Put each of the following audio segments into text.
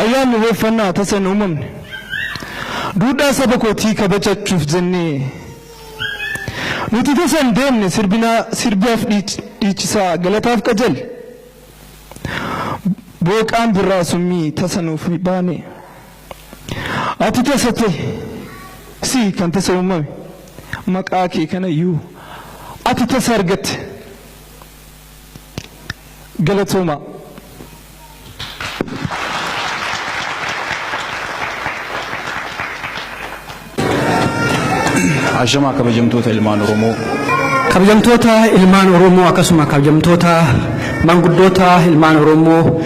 Ayyaanni Irreeffannaa tasa hin uumamne. Duudhaa saba kootii kabajachuuf jennee nuti tasa hin deemne sirbinaa sirbaaf dhiich- dhiichisaa galataaf qajeelle. Booqaan birraa summii tasa nuuf hin baane. Ati tasa ta'e si kan tasa uumame maqaa kee kanayyuu ati tasa argatte. Galatooma. Ashamaa kabajamtoota ilmaan Oromoo. Kabajamtoota ilmaan Oromoo akkasuma kabajamtoota manguddoota ilmaan Oromoo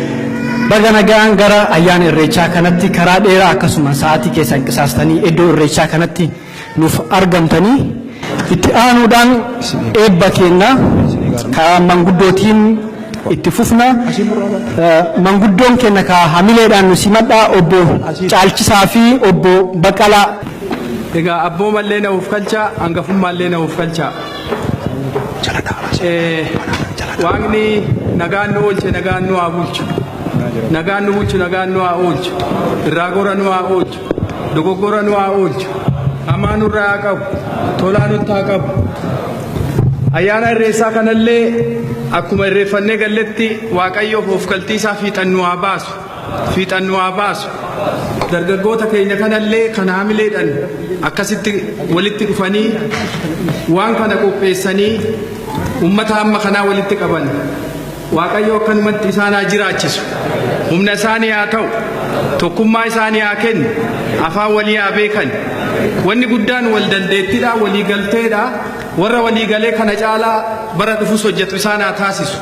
baga nagaan gara ayyaana irreechaa kanatti karaa dheeraa akkasuma sa'aatii keessan qisaastanii iddoo irreechaa kanatti nuuf argamtanii itti aanuudhaan eebba keenna karaa manguddootiin itti fufna manguddoon keenna kaa hamileedhaan nu simadhaa obbo Caalchisaa fi obbo Baqqalaa. Egaa abboomallee na uufkalchaa hangafummaallee na uufkalchaa. Waaqni nagaan nu oolche nagaan nu haa bulchu. Nagaan nu bulchu nagaan nu haa oolchu. Irraa gora nu haa oolchu. Dogoggora nu haa oolchu. Hamaa nurraa haa qabu. Tolaa nutti haa qabu. Ayyaana irreessaa kanallee akkuma irreeffannee galletti Waaqayyoof oofkaltii isaa fiixan nu haa baasu. Fiixan nu haa baasu. Dargaggoota keenya kanallee kan haamileedhaan akkasitti walitti dhufanii waan kana qopheessanii uummata hamma kanaa walitti qaban. Waaqayyo akkanumatti isaan haa jiraachisu. Humna isaanii haa ta'u. Tokkummaa isaanii haa kennu. Afaan walii haa beekan. Wanni guddaan wal dandeettiidha, walii galteedha. Warra walii galee kana caalaa bara dhufus hojjetu isaan haa taasisu.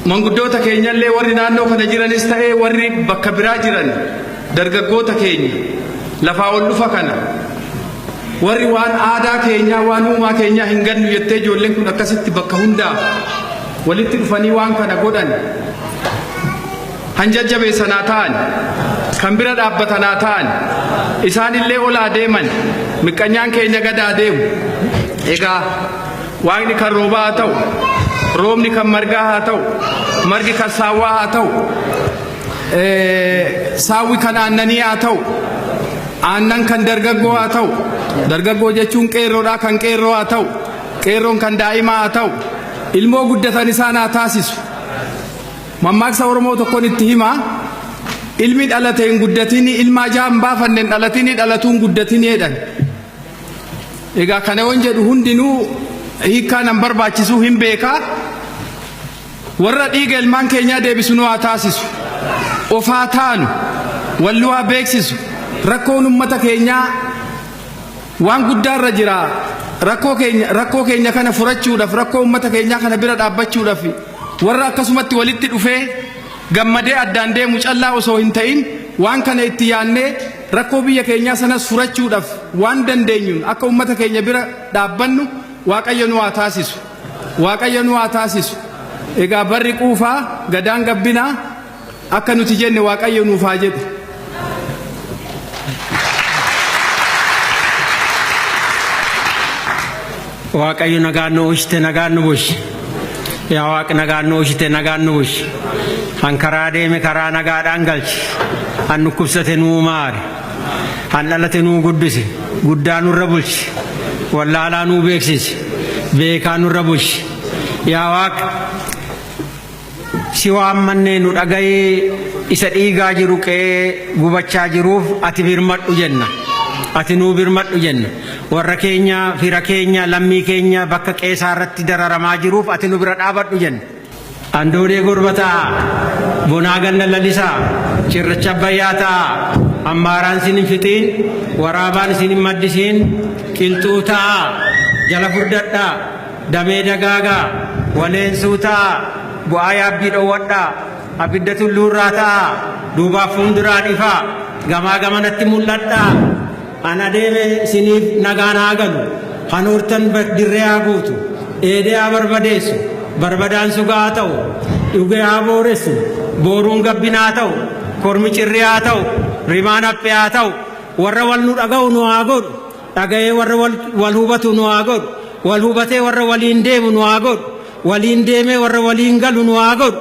Manguddoota keenyallee warri naannoo kana jiranis ta'ee warri bakka biraa jiran dargaggoota keenya lafaa ol dhufa kana Warri waan aadaa keenyaa, waan uumaa keenyaa hin gannu jettee ijoolleen kun akkasitti bakka hundaaf walitti dhufanii waan kana godhan kan jajjabeessan haa ta'an, kan bira dhaabbatan haa ta'an, isaanillee ol haa deeman, miqqanyaan keenya gad haa deemu. Egaa waaqni kan roobaa haa ta'u, roobni kan margaa haa ta'u, margi kan saawwaa haa ta'u, saawwi kan aannanii haa ta'u aannan kan dargaggoo haa ta'u dargaggoo jechuun qeerroodhaa kan qeerroo haa ta'u qeerroon kan daa'imaa haa ta'u ilmoo guddatan isaan haa taasisu mammaaksa oromoo tokkon itti himaa ilmi dhalate hin guddatini ilma ajaa hin baafanne hin dhalatini dhalatuun guddatini jedhan egaa kana waan jedhu hundinuu hiikkaa nan barbaachisuu hin beekaa Warra dhiiga ilmaan keenyaa deebisu nu haa taasisu. Of haa taanu. Wal nu haa beeksisu. Rakkoon ummata keenyaa waan guddaa irra jira. Rakkoo keenya rakkoo keenya kana furachuudhaaf rakkoo ummata keenyaa kana bira dhaabbachuudhaaf warra akkasumatti walitti dhufee gammadee addaan deemu callaa osoo hin ta'in waan kana itti yaannee rakkoo biyya keenyaa sanas furachuudhaaf waan dandeenyuun akka ummata keenya bira dhaabbannu waaqayyo nu haa taasisu. Waaqayyo nu haa taasisu. Egaa barri quufaa gadaan gabbinaa akka nuti jenne Waaqayyo nuuf haa jedhu. Waaqayyo nagaan nu oolchite nagaan nu bulchi. Yaa Waaq nagaan nu oolchite nagaan nu bulchi. Kan karaa deeme karaa nagaadhaan galchi. Kan dhukkubsate nuu maari. Kan dhalate nuu guddise, guddaa nurra bulchi. Wallaalaa nuu beeksisi, beekaa nurra bulchi. Yaa Waaq, si waammannee nu dhaga'i, isa dhiigaa jiru qe'ee gubachaa jiruuf ati birmadhu jenna. Ati nuu birmadhu jenna. Warra keenya, fira keenya, lammii keenya bakka qe'ee isaa irratti dararamaa jiruuf ati nu bira dhaabadhu jenna. Andoodee gurba ta'aa, bonaa ganna lalisaa, cirracha Abbayyaa ta'aa, ammaaraan isin hin fixiin, waraabaan isin hin maddisiin, qilxuu ta'aa, jala furdadhaa, damee dagaagaa, waleensuu ta'aa, bu'aa yaabbii dhowwadhaa, abidda tulluurraa ta'aa, duubaaf fuunduraan ifaa, gamaa gamanatti mul'adhaa. An adeeme isiniif nagaan haa galu, kan hortan dirree haa guutu, dheedee haa barbadeessu, barbadaan suga haa ta'u, dhugee haa booressu, booruun gabbina haa ta'u, kormi cirrii haa ta'u, rimaan haphee haa ta'u, warra wal nu dhaga'u nu haa godhu, dhaga'ee warra wal hubatu nu haa godhu, wal hubatee warra waliin deemu nu haa godhu, waliin deemee warra waliin galu nu haa godhu,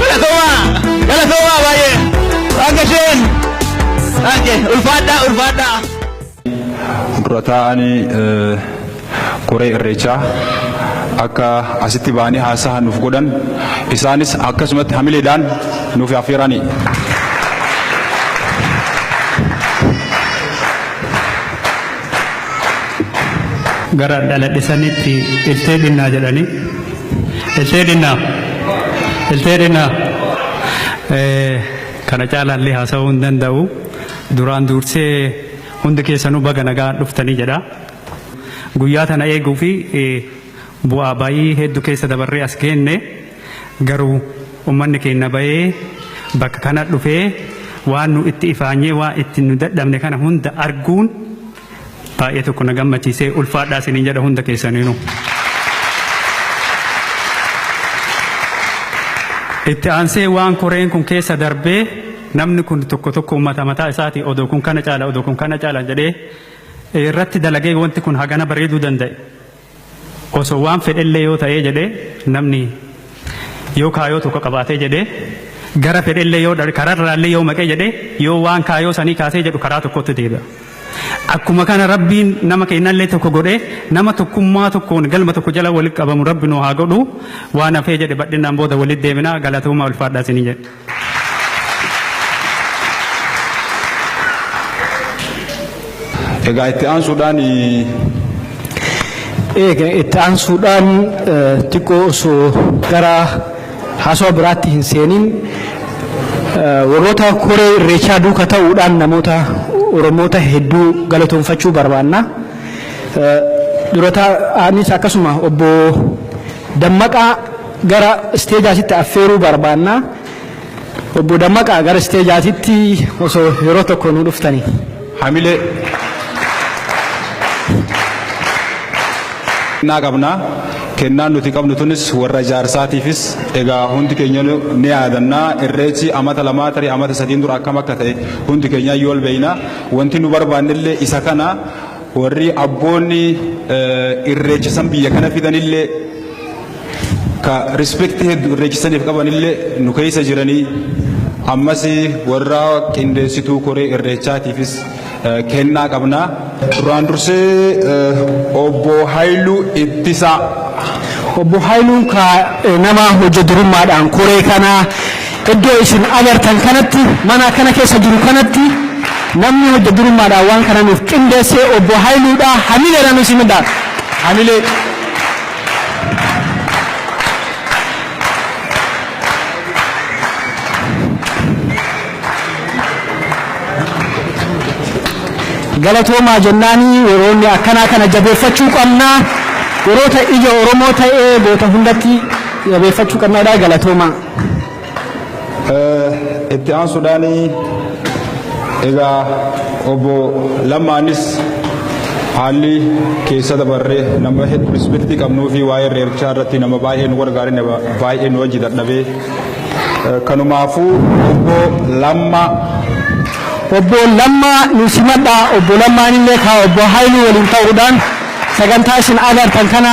Galatoomaa! Galatoomaa baay'ee! Akka isheen! Akka ulfaadhaa ulfaadhaa! dura taa'anii koree irreechaa akka asitti ba'anii haasaa nuuf godhan isaanis akkasumatti hamileedhaan nuuf affeeranii. gara dhaladhisanitti iltee dhinnaa jedhanii iltee dhinnaa iltee dhinnaa kana caalaallee haasa'uu hin danda'u duraan duursee hundi keessanuu baga nagaa dhuftanii jedha guyyaa tana eeguu fi bu'aa bayii hedduu keessa dabarree as geenne. Garuu ummanni keenna bayee bakka kana dhufee waan nu itti ifaanyee waan itti nu dadhabne kana hunda arguun baay'ee tokko na gammachiisee ulfaadhaa isiniin jedha hunda keessaniinu. Itti aansee waan koreen kun keessa darbee namni kun tokko tokko ummata mataa isaati odoo kun kana caala odoo kun kana caala jedhee irratti dalagee wanti kun hagana bareeduu danda'e. Osoo waan fedhellee yoo ta'ee jedhee namni yoo kaayoo tokko qabaatee jedhee gara fedhellee yoo dha- kararraallee yoo maqee jedhee yoo waan kaayoo sanii kaasee jedhu karaa tokkotti deebi'a. Akkuma kana rabbiin nama keenyallee tokko godhee nama tokkummaa tokkoon galma tokko jala walitti qabamu rabbi nu haa godhu waan hafee jedhe badhinnaan booda walitti deebina galatooma ulfaadhaa isinii jedhe. Egaa itti aansuudhaan Eega itti aansuudhaan eh, xiqqoo osoo gara haasawaa biraatti hin seenin eh, warroota koree irreechaa duuka ta'uudhaan namoota Oromoota hedduu galatoomfachuu barbaanna. Eh, Durataa anis akkasuma obbo Dammaqaa Gara isteejaatitti affeeruu barbaanna. Obbo Dammaqaa gara isteejaatitti osoo yeroo tokko nu dhuftanii. Hamilee kennaa qabna. Kennaan nuti qabnu tunis warra ijaarsaatiifis egaa hundi keenya ni yaadanna. Irreechi amata lamaa tarii amata sadiin dura akkam akka ta'e hundi keenya iyyuu ol beekna. Wanti nu barbaannellee isa kana warri abboonni irreecha san biyya kana fidanillee ka respect heddu irreechisaniif qabanillee nu keessa jiranii ammas warra qindeessituu koree irreechaatiifis eh, kennaa qabna. Duraan dursee eh, obbo Haayiluu Ittisaa Obbo Haayiluun ka eh, nama hojja durummaadhaan koree kana iddoo isin agartan kanatti mana kana keessa jiru kanatti namni hojja durummaadhaan waan kana nuuf qindeessee obbo Haayiluudha hamileedhaan isin midhaan hamilee galatoomaa jennaanii yeroonni akkanaa kana jabeeffachuu qabna yeroota ija oromoo ta'ee goota hundatti jabeeffachuu qabnadha galatoomaa. Itti aansuudhaan egaa obbo Lammaanis haalli keessa dabarree nama hedduu rispektii qabnuu fi waa'ee reerchaa irratti nama baay'ee nu gargaare nama baay'ee nu wajji dadhabee kanumaafuu obbo Lammaa Obbo Lammaa nu simadhaa obbo Lammaan illee kaa obbo Haayiluu waliin ta'uudhaan sagantaa isin agartan kana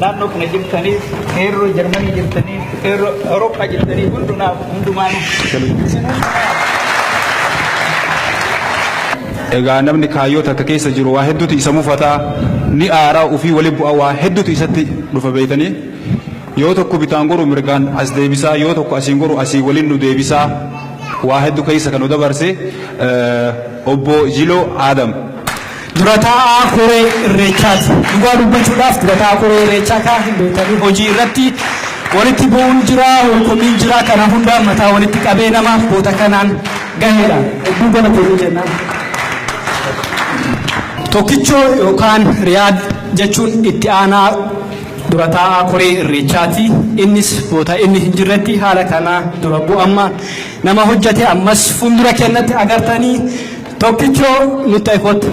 Naannoo kana jirtaniif, qeerroo Jarmanii jirtaniif, qeerroo Awurooppaa jirtaniif hundumaaf hundumaanuu. Egaa namni kaayyoo takka keessa jiru waa hedduutu isa mufataa ni aaraa ofii wali bu'a waa hedduutu isatti dhufa beeytanii yoo tokko bitaan goru mirgaan as deebisaa yoo tokko asiin goru asii waliin nu deebisaa waa hedduu keessa kan nu dabarse obbo Jiloo Aadam. Dura taa'aa koree irreechaati. Dhugaa dubbachuudhaaf dura taa'aa koree irreechaa kaa hin beektanii hojii irratti walitti bu'uun jira, walkomiin jira kana hundaa mataa walitti qabee namaaf boota kanaan gaheedha. Hedduu galatoomi jennaan. Tokkichoo yookaan Riyaad jechuun itti aanaa dura taa'aa koree irreechaati. Innis boota inni hin jirretti haala kanaa dura bu'amma nama hojjate ammas fuuldura kennatti agartanii Tokkicho nutti ta'i kottu.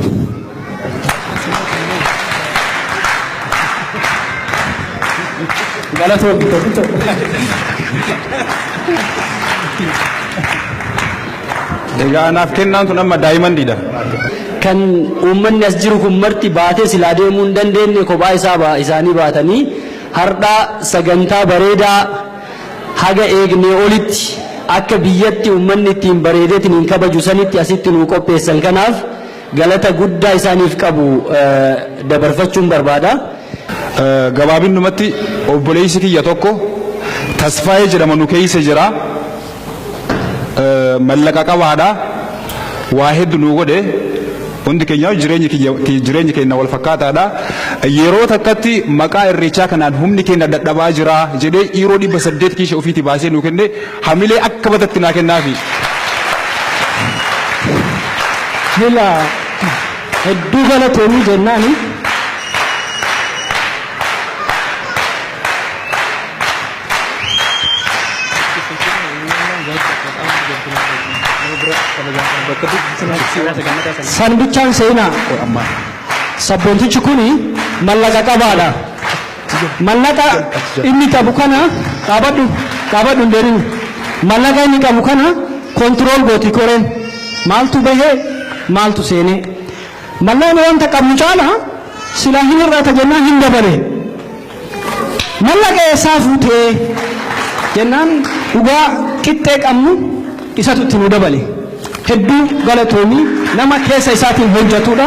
Galatoomi tokkicho. Egaa anaaf kennaan tun amma daayimandiidha. Kan uummanni as jiru kun marti baatee silaa deemuu hin dandeenye kophaa isaa isaanii baatanii hardhaa sagantaa bareedaa Haga eegnee olitti akka biyyatti ummanni ittiin bareedetiniin kabaju sanitti asitti nuu qopheessan kanaaf galata guddaa isaaniif qabu dabarfachuun barbaada. Gabaabinnumatti obboleessi kiyya tokko Tasfaayee jedhama nu keessa jira. mallaqa qabaadha waa heddu nuu godhe hundi keenya jireenyi kiyya- ki- jireenyi keenya wal fakkaataadha yeroo takkatti maqaa irreechaa kanaan humni keenya dadhabaa jira jedhee yeroo dhibba saddeet kiisha ofiitii baasee nuu kenne hamilee akka batatti naa kennaafi. Hila hedduu galatoomii jennaani. San bichaan seenaa. Sabboontichi kun mallaqa qabaadha. Mallaqa inni qabu kana dhaabadhu dhaabadhu hin deemin. Mallaqa inni qabu kana kontirool gooti koreen maaltu bahee maaltu seenee. Mallaqni wanta qabnu caala silaa hin hir'ata jennaan hin dabale. Mallaqa eessaa fuute? jennaan dhugaa qixxee qabnu isatu itti nu dabale. Hedduu galatoomi nama keessa isaatiin hojjatuudha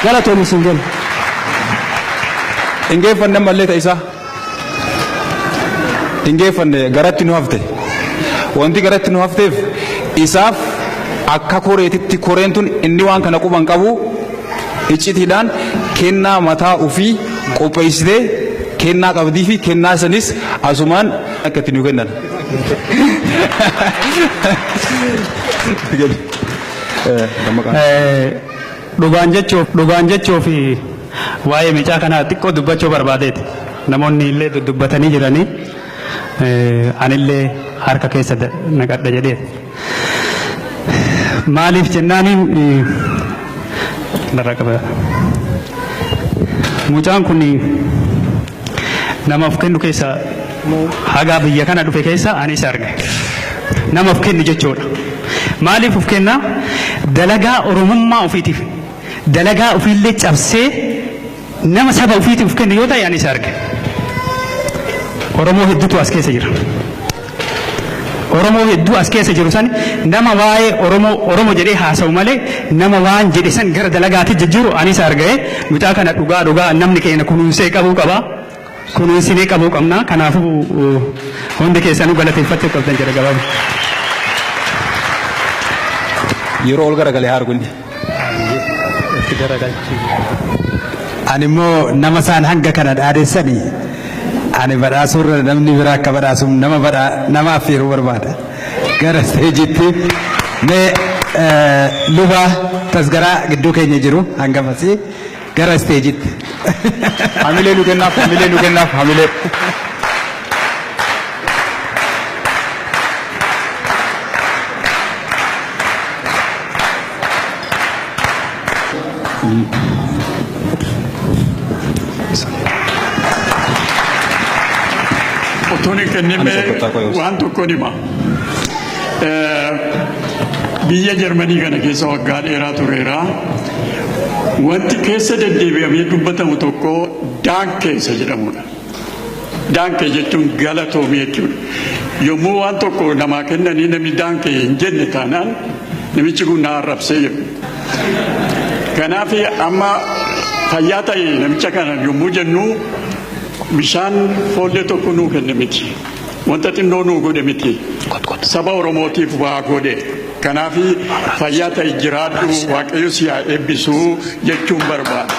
galatoomi siin jenna. Hin geeffanne ammallee ta isaa. Hin geeffanne garatti nu hafte. Wanti garatti nu hafteef isaaf akka koreetitti koreen tun inni waan kana quban qabu Iccitiidhaan kennaa mataa ofii qopheessitee kennaa qabdii fi kennaa sanis asumaan akka itti nu kennan. Dhugaan jechuuf dhugaan jechuuf waa'ee micaa kanaa xiqqoo dubbachuu barbaadeeti. Namoonni illee dudubbatanii jiranii anillee harka keessa naqadha jedhee. Maaliif jennaaniin barraa qaba. Mucaan kun nama of kennu keessa hagaa biyya kana dhufe keessa ani isa arge. Nama of kennu jechuudha. Maaliif of kenna? Dalagaa Oromummaa ofiitiif dalagaa ofiillee cabsee Nama saba ofiitii of kenne yoo ta'e ani isa arge. Oromoo hedduutu as keessa jira. Oromoo hedduu as keessa jiru san nama waa'ee Oromoo Oromoo jedhee haasa'u malee nama waan jedhe san gara dalagaatti jijjiiru ani isa arga'e mucaa kana dhugaa dhugaa namni keenya kunuunsee qabuu qaba. kunuunsinee qabuu qabna. Kanaafuu hundi keessanuu galateeffachuu qabdan jedha gabaabaa. Yeroo ol garagalee haa argu inni. Itti garagalchi. Ani immoo nama isaan hanga kana dhaadessani ani badhaasuu irra namni biraa akka badhaasuuf nama badhaa nama affeeruu barbaada. Gara isteejiitti mee eh, luba tasgaraa gidduu keenya jiru hangamasii Gara isteejitti. Hamilee nu kennaaf, hamilee nu kennaaf, hamilee. Otoon hin kennine waan tokkoon hima. Eh, Biyya Jarmanii kana keessa waggaa dheeraa tureera. Wanti keessa deddeebi'amee dubbatamu tokko daankee isa jedhamudha. Daankee jechuun galatoomii jechuudha. Yommuu waan tokko namaa kennanii namni daankee hin jenne taanaan namichi kun na arrabsee jedhu. Kanaaf amma fayyaa ta'e namicha kana yommuu jennu bishaan foollee tokko nuu kenne miti. Wanta xinnoo nuu godhe miti. Saba Oromootiif waa godhe. Kanaafi fayyaa ta'i jiraadhu waaqayyo si haa eebbisu jechuun barbaada.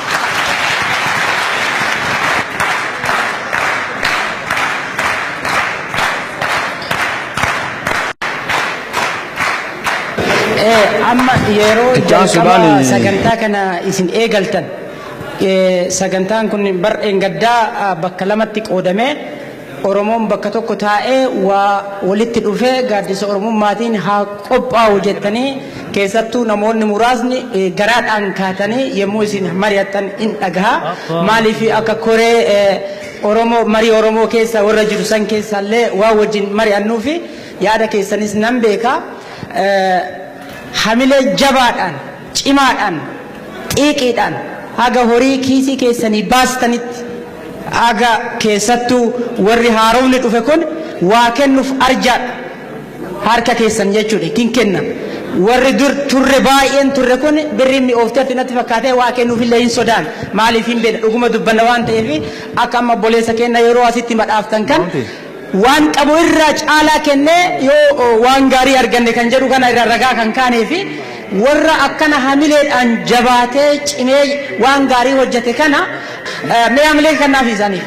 Eh, amma yeroo Itti aansuudhaan- jalqaba sagantaa kana isin eegaltan eh, sagantaan kun bar engaddaa ah, bakka lamatti qoodamee Oromoon bakka tokko taa'ee waa walitti dhufee gaaddisa Oromummaatiin haa qophaa'u jettanii keessattuu namoonni muraasni garaadhaan kaatanii yommuu isin mari'attan in dhagaha. Maaliif akka koree Oromoo marii Oromoo keessa warra jiru san keessaallee waa wajjin mari'annuufi yaada keessanis nan beeka. Hamilee jabaadhaan cimaadhaan, xiiqiidhaan haga horii kiisii keessanii baastanitti, haga keessattuu warri haaromni dhufe kun waa kennuuf arjaadha. Harka keessan jechuu dha, ittiin kenna. Warri dur turre baay'een turre kun birriin mi'oofteerti natti fakkaatee waa kennuuf illee hin sodaanne. Maaliif hin beekna, dhuguma dubbanna waan ta'eef, akka amma obboleessa keenya yeroo asitti madhaaftan kan, waan qabu irraa caalaa kennee yoo waan gaarii arganne kan jedhu kana irra ragaa kan kaanee fi warra akkana hamileedhaan jabaatee cimee waan gaarii hojjete kana mee hamilee kannaaf isaaniif.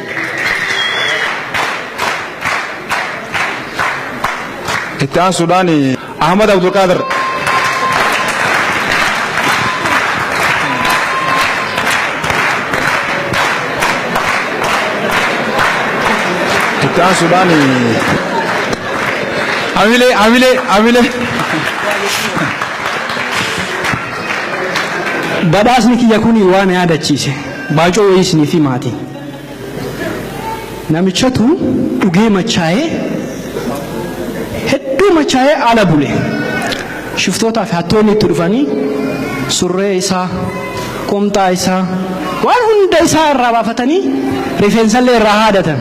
Itti aansuudhaan Ahmad Abdulqaadir. Itti aansuudhaan Hamilee, hamilee, hamilee. Badhaasni kiyya kun waan yaadachiise. Baacoo wayii isiniif himaati. Namichatu dhugee machaa'ee hedduu machaa'ee ala bule. Shiftootaa fi hattoonni itti dhufanii surree isaa, qomxaa isaa, waan hunda isaa irraa baafatanii rifeensallee irraa haadatan.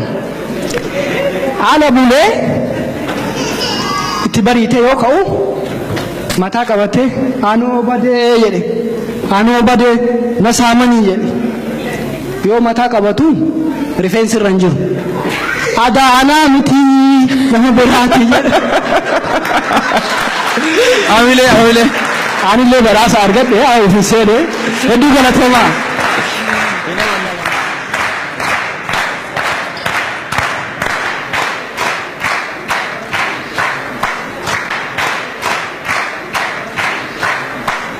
Ala bulee itti bariitee yoo ka'u mataa qabatee anoo badee jedhe anoo badee na saamanii jedhe. Yoo mataa qabatu rifeensi irra hin jiru. Adaa anaa mitii nama biraati jedha. Hamilee hamilee. Anillee badhaasa argadhe haa ofiin seene hedduu galatoomaa.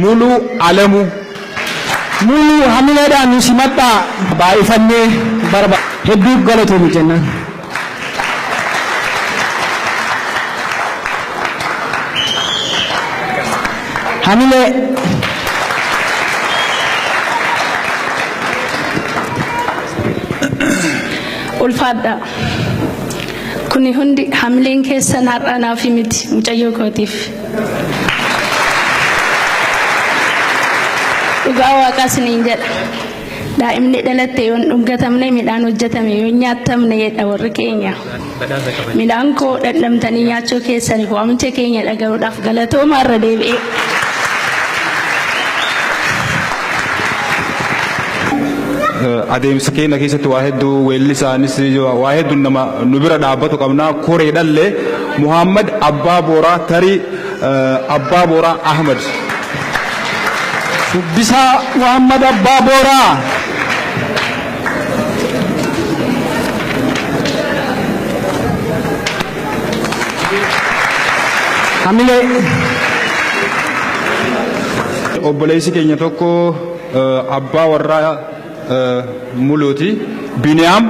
Mulu Alamu Mulu hamiledha nu simadhaa. Baay'ifannee barba hedduu galatoomi jennaan. Hamilee. Ulfaadhaa. Kuni hundi hamileen keessan har'a naaf miti mucayyoo kootiif. Dhugaa waaqaa isiniin jedha. Daa'imni dhalatte yoo hin dhungatamne midhaan hojjetame yoo hin nyaattamne jedha warri keenya. Midhaan koo dhandhamtanii nyaachuu keessaniif waamicha keenya dhaga'uudhaaf galatoomaa irra deebi'ee. adeemsa keenya keessatti waa hedduu weellisaanis waa hedduun nama nu bira dhaabbatu qabna koree dhallee Muhaammad Abbaa Booraa Tarii Abbaa Booraa Ahmad. Shubbisaa Muhaammad Abbaa Booraa. Hamilee. Obboleessi keenya tokko abbaa warraa Muluuti. Biniyaam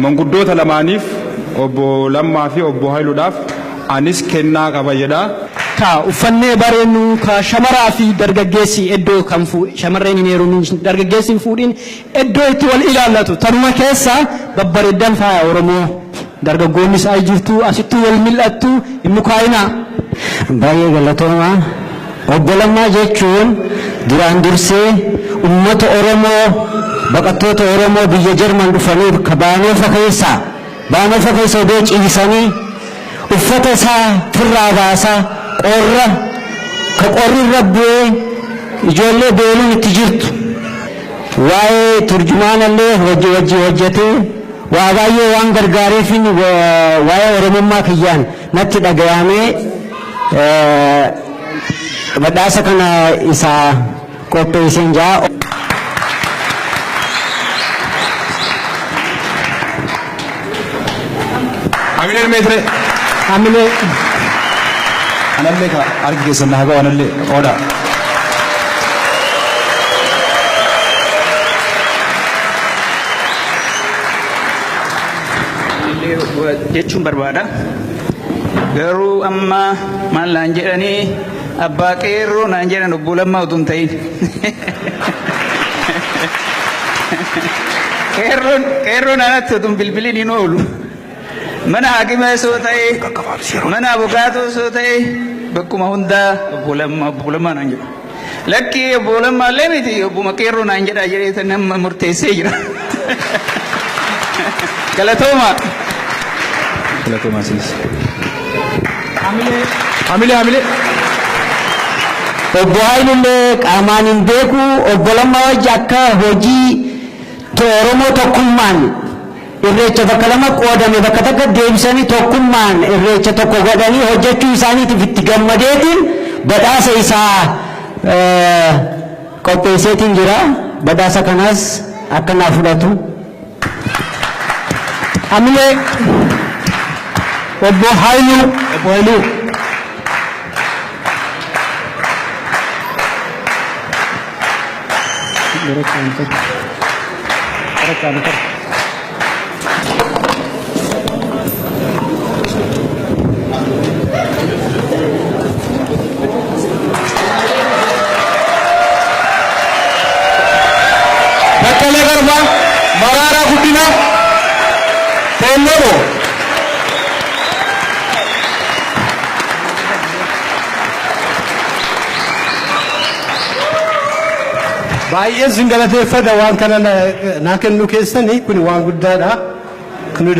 manguddoota lamaaniif obbo Lammaa fi obbo Hayiludhaaf anis kennaa qaba jedha. Kaa uffannee bareennu kaa shamaraa fi dargaggeessi eddoo kan shamarreen hin heerumin dargaggeessi hin fuudhin eddoo itti wal ilaallatu tanuma keessa babbareeddan faaya oromoo. Dargaggoonnis ay jirtuu asittuu wal mil'attu hin mukaa'inaa. Baay'ee galatoomaa. Obbo Lammaa jechuun duraan dursee ummata Oromoo baqattoota Oromoo biyya Jarman dhufanii ka Baanoofa keessaa Baanoofa keessa odoo ciisanii uffata isaa firraa baasaa qorra ka qorri irra bu'ee ijoollee beeluun itti jirtu waa'ee turjumaana illee wajji wajji hojjatee Waa baay'ee waan gargaareefiin waa'ee Oromummaa kiyyaan natti dhagayaamee badhaasa kana isa qopheesseen jaa. Hamilee ilmee ture. Hamilee. Anallee ka argi keessan na haga'u anallee qooda. jechuun barbaada. Garuu amma maal naan jedhanii abbaa qeerroo naan jedhan obbo Lammaa utuu hin ta'in. Qeerroon qeerroon anatti utuu hin bilbilin hin oolu. Mana haakimaas yoo ta'e, mana abukaatos yoo ta'e bakkuma hundaa obbo Lammaa obbo Lammaa naan jedhu. Lakkii obbo Lammaa illee miti obbuma qeerroo naan jedhaa jedhee tan amma murteessee jira. Galatoomaa. Galatoomaa isinis. Hamilee hamilee. Obbo Haayilullee qaamaan hin beeku obbo Lammaa wajji akka hojii to- Oromoo tokkummaan Irreecha bakka lama qoodame bakka takkatti deebisanii tokkummaan irreecha tokko godhanii hojjechuu isaaniitiif itti gammadeetiin badhaasa isaa qopheesseetiin jira. Badhaasa kanas akka naa fudhatu. Hamilee Obbo Haayiluu. Obbo Haayiluu. Baqqalee Garbaa, Maraaraa Guddinaa, Teelloo Dhoo. Baay'ee sin galateeffadha waan kana naa kennu keessanii kun waan guddaadha. Nu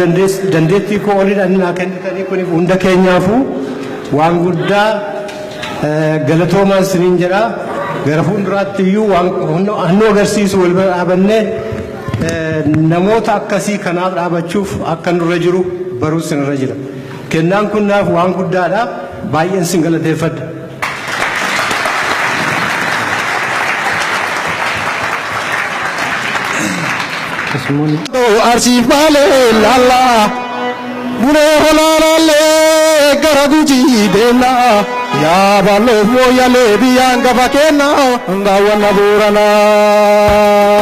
dandeettii koo oliidha inni naa kennitanii kun hunda keenyaafuu waan guddaa galatoomaan siniin jedha. Gara fuulduraatti iyyuu waan hannu agarsiisu wal bira dhaabannee namoota akkasii kanaaf dhaabachuuf akka nurra jiru baruu sinirra jira. Kennaan kun naaf waan guddaadha. Baay'een sin galateeffadha. Arsiif baalee laallaa bulee holaa laallee gara gujii deemnaa yaa balloof mooyyalee biyyaan gafa keennaa daawwanna booranaa.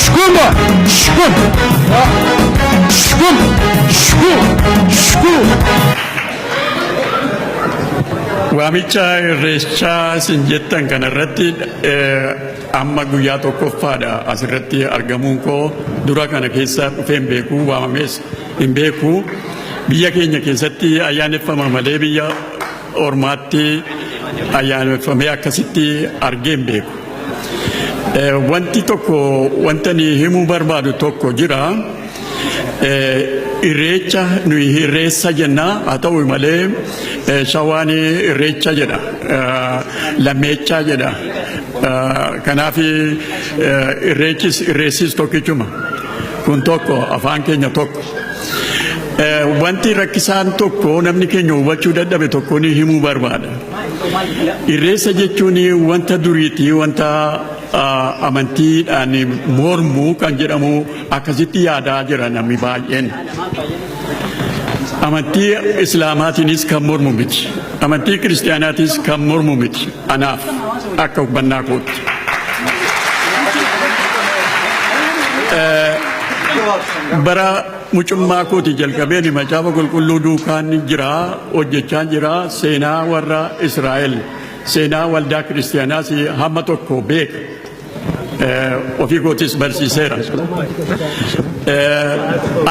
Shkum, shkum, shkum, shkum, shkum. Waamicha irreechaa isin jettan kana irratti eh, amma guyyaa tokkoffaadha asirratti argamuun koo dura kana keessa dhufee hin beeku waamamees hin beeku biyya keenya keessatti ayyaaneffama malee biyya ormaatti ayyaaneffamee akkasitti argee hin beeku. Eh, Wanti tokko wanta ni himuu barbaadu tokko jira. Eh, Irreecha nuyi irreessa jenna haa ta'u malee eh, shawaan irreecha jedha eh, lammeechaa jedha. Eh, Kanaaf eh, irreechis irreessis tokkichuma. kun tokko afaan keenya tokko. Eh, Wanti rakkisaan tokko namni keenya hubachuu dadhabe tokko ni himuu barbaada. Irreessa jechuun wanta duriiti wanta ah, amantiidhaan mormu kan jedhamu akkasitti yaadaa jira namni baay'een. Amantii Islaamaatiinis kan mormu miti. Amantii Kiristaanaatiis kan mormu miti. Anaaf akka hubbannaa kootti. bara mucummaa kootii jalqabeen macaafa qulqulluu duukaan jira hojjechaan jira seenaa warra Israa'el seenaa waldaa kiristiyaanaas hamma tokko beeka. ofii kootis barsiiseera.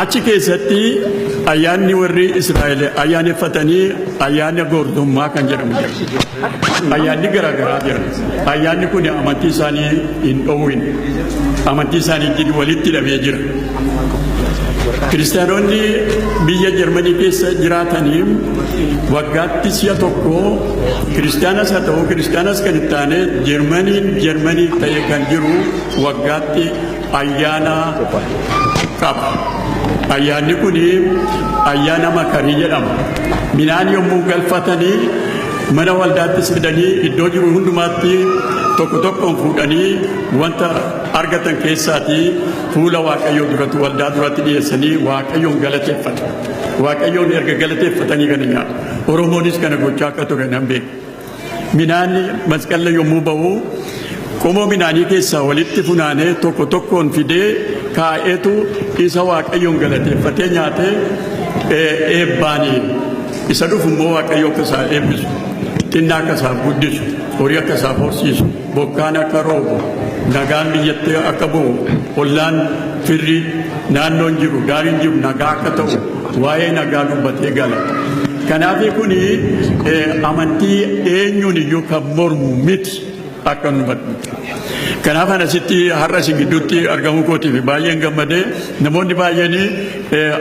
Achi keessatti ayyaanni warri Israa'el ayyaaneffatanii ayyaana goortummaa kan jedhamu jira. Ayyaanni garaagaraa jira. Ayyaanni kun amantii isaanii hin dhoowwin. Amantii isaanii walitti hidhamee jira. Kiristaanonni biyya Jarmanii keessa jiraataniif waggaatti si'a tokko kiristaanas haa ta'u kiristaanas kan hin taane Jarmaniin Jarmanii ta'e kan jiru waggaatti ayyaana qaba. Ayyaanni kun ayyaana makarii jedhama. Midhaan yommuu galfatanii mana waldaattis fidanii iddoo jiru hundumaatti tokko tokkoon fuudhanii wanta argatan keessaatii Fuula Waaqayyoo duratti waldaa duratti dhiyeessanii Waaqayyoon galateeffatu. Waaqayyoon erga galateeffatanii kana nyaatu. Oromoonis kana gochaa akka ture nan beeka. Minaanni masqalla yommuu ba'u qomoo minaanii keessaa walitti funaanee tokko tokkoon fidee kaa'eetu isa Waaqayyoon galateeffatee nyaatee eh, eebbaanii isa dhufu immoo Waaqayyo akka isaa eebbisu xinnaa akka isaa guddisu horii akka isaa horsiisu Bokkaan akka roobu, nagaan biyyatti akka bu'u, ollaan, firri, naannoon jiru, gaariin jiru nagaa akka ta'u waa'ee nagaa dubbatee gala. Kanaafii kun amantii eenyuun iyyuu kan mormu miti akka nu hubadhu. Kanaaf ana sitti har'a isin gidduutti argamuu kootiif baay'een gammadee namoonni baay'een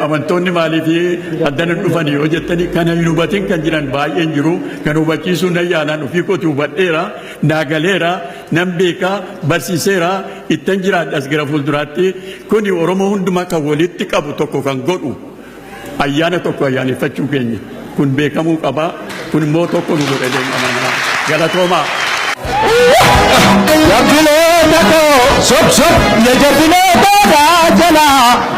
amantoonni maaliif addana dhufan yoo jettanii kana hin hubatin kan jiran baay'een jiru kan hubachiisuu nan yaalaan ofii kooti hubadheera. Naa galeera, nan beeka, barsiiseera, ittan jiraadhas gara fuulduraatti. Kuni Oromoo hundumaa kan walitti qabu tokko kan godhu ayyaana tokko ayyaaneffachuu keenya. Kun beekamuu qaba. Kun immoo tokko nu godha jedheen amana. Galatoomaa. Jabbilee takoo sob sob ya jabbilee boodaa jalaa.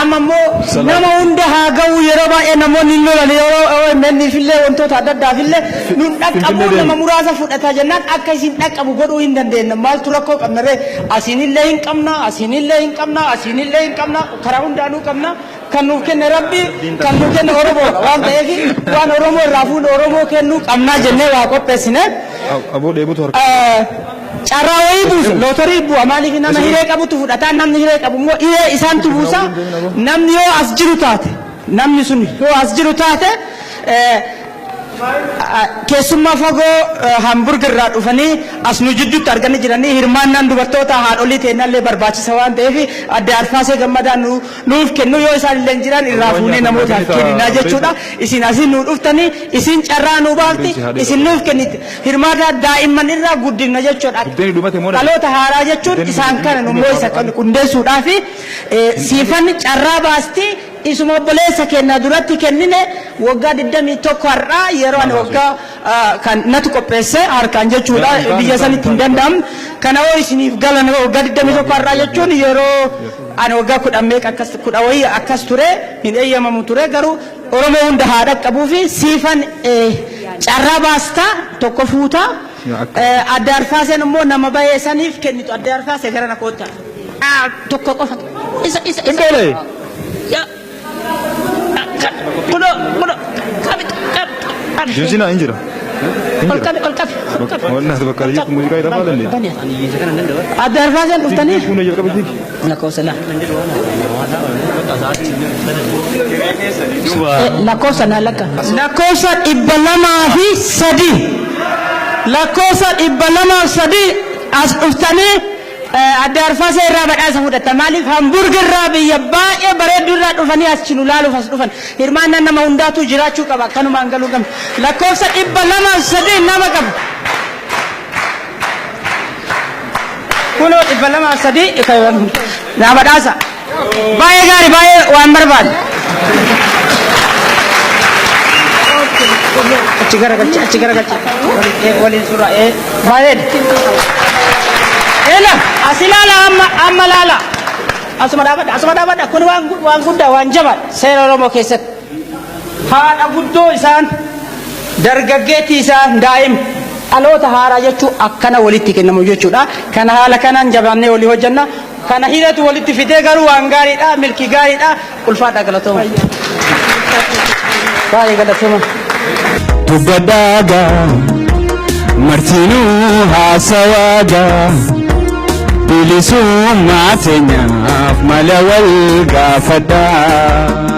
Amma immoo nama hunda haa ga'uu yeroo baay'ee namoonni hin lolan yeroo OMN fillee wantoota adda addaa fillee nun dhaqqabuu nama muraasa fudhataa jennaan akka isin dhaqqabu godhuu hin dandeenna maaltu rakkoo qabna ree asiinillee hin qabna asiinillee hin qabna asiinillee hin qabna karaa hundaanuu qabna kan nuuf kenne rabbi kan nuuf kenne oromoodha waan ta'eef waan oromoo irraa fuudhe oromoo kennuu qabnaa jennee waa qopheessine. Aboo dheebutu harka. Carraa wayii buusu, lootorii bu'a maaliif nama hiree qabutu fudhata, namni hiree qabu immoo hiree isaantu buusa, namni yoo as jiru taate, namni sun yoo as jiru taate keessummaa fagoo Hamburg irraa dhufanii as nu jidduutti arganii jiranii hirmaannaan dubartoota haadholii teennaa illee barbaachisa waan ta'eef adde Arfaasee Gammadaa nu, nuuf kennu yoo isaan illee hin jiran irraa fuunee namootaaf kenninaa jechuudha. Isin asiin nu dhuftanii isin carraa nu baafti isin nuuf kenniti. Hirmaataa daa'imman irraa guddifna jechuudha. Dhaloota haaraa jechuun isaan kana nu immoo isa kan qundeessuudhaafi siifanni carraa baastii isuma obboleessa keenna duratti kennine waggaa 21 har'aa yeroo ani waggaa kan natu qopheesse harkaan jechuudha biyya sanitti hin danda'amu kana hoo isiniif galan waggaa 21 har'aa jechuun yeroo ani waggaa kudhan meeqa akkas kudha wayii akkas ture hin eeyyamamu ture garuu Oromoo hunda haa dhaqqabuufi siifan carraa baasta tokko fuuta Aadde Arfaaseen immoo nama bahee saniif kennitu Aadde Arfaasee garana kootta tokko qofa isa isa isa Indoolee. Ya- kan- kuno kuno qabit qabit qabit Jijina hin jira. Hin ol jira. qabi ol qabi ol qabi Wallahi bakka jirtu muuziqaa irra faalan. Aadde Arfaaseen dhuftanii Kuno jalqaba jigi. Lakkoofsa lama. Lakkoofsa naa lakka. Lakkoofsa dhibba lamaa fi sadii. Lakkoofsa dhibba lamaaf sadii as dhuftanii adda arfaasee irraa badhaasa fudhatan. Maaliif Hamburg irraa biyya baay'ee bareedduu irraa dhufanii as nu laaluuf as dhufan. Hirmaannaan nama hundaatu jiraachuu qaba. Akkanumaan galuu qabna. Lakkoofsa dhibba lamaaf sadii nama qaba. kunoo dhibba lamaa sadii naa badhaasa baay'ee gaari baay'ee waan barbaadu achi garagalchi achi garagalchi waliin suuraa ee baay'ee ena asi laala amma amma laala asuma dhaabadha asuma dhaabadha kun waan waan guddaa waan jabaa seera oromoo keessatti Haadha guddoo isaan dargaggeettii isaan daa'ima dhaloota haaraa jechuun akkana walitti kennamu jechuudha. Kana haala kanaan jabaannee walii hojjenna. Kana hidhatu walitti fidee garuu waan gaariidha, milkii gaariidha. Ulfaadha galatooma. Baay'ee galatooma. dubbadhaaga martinuu haasawaaga bilisummaa teenyaaf mala wal gaafadhaa.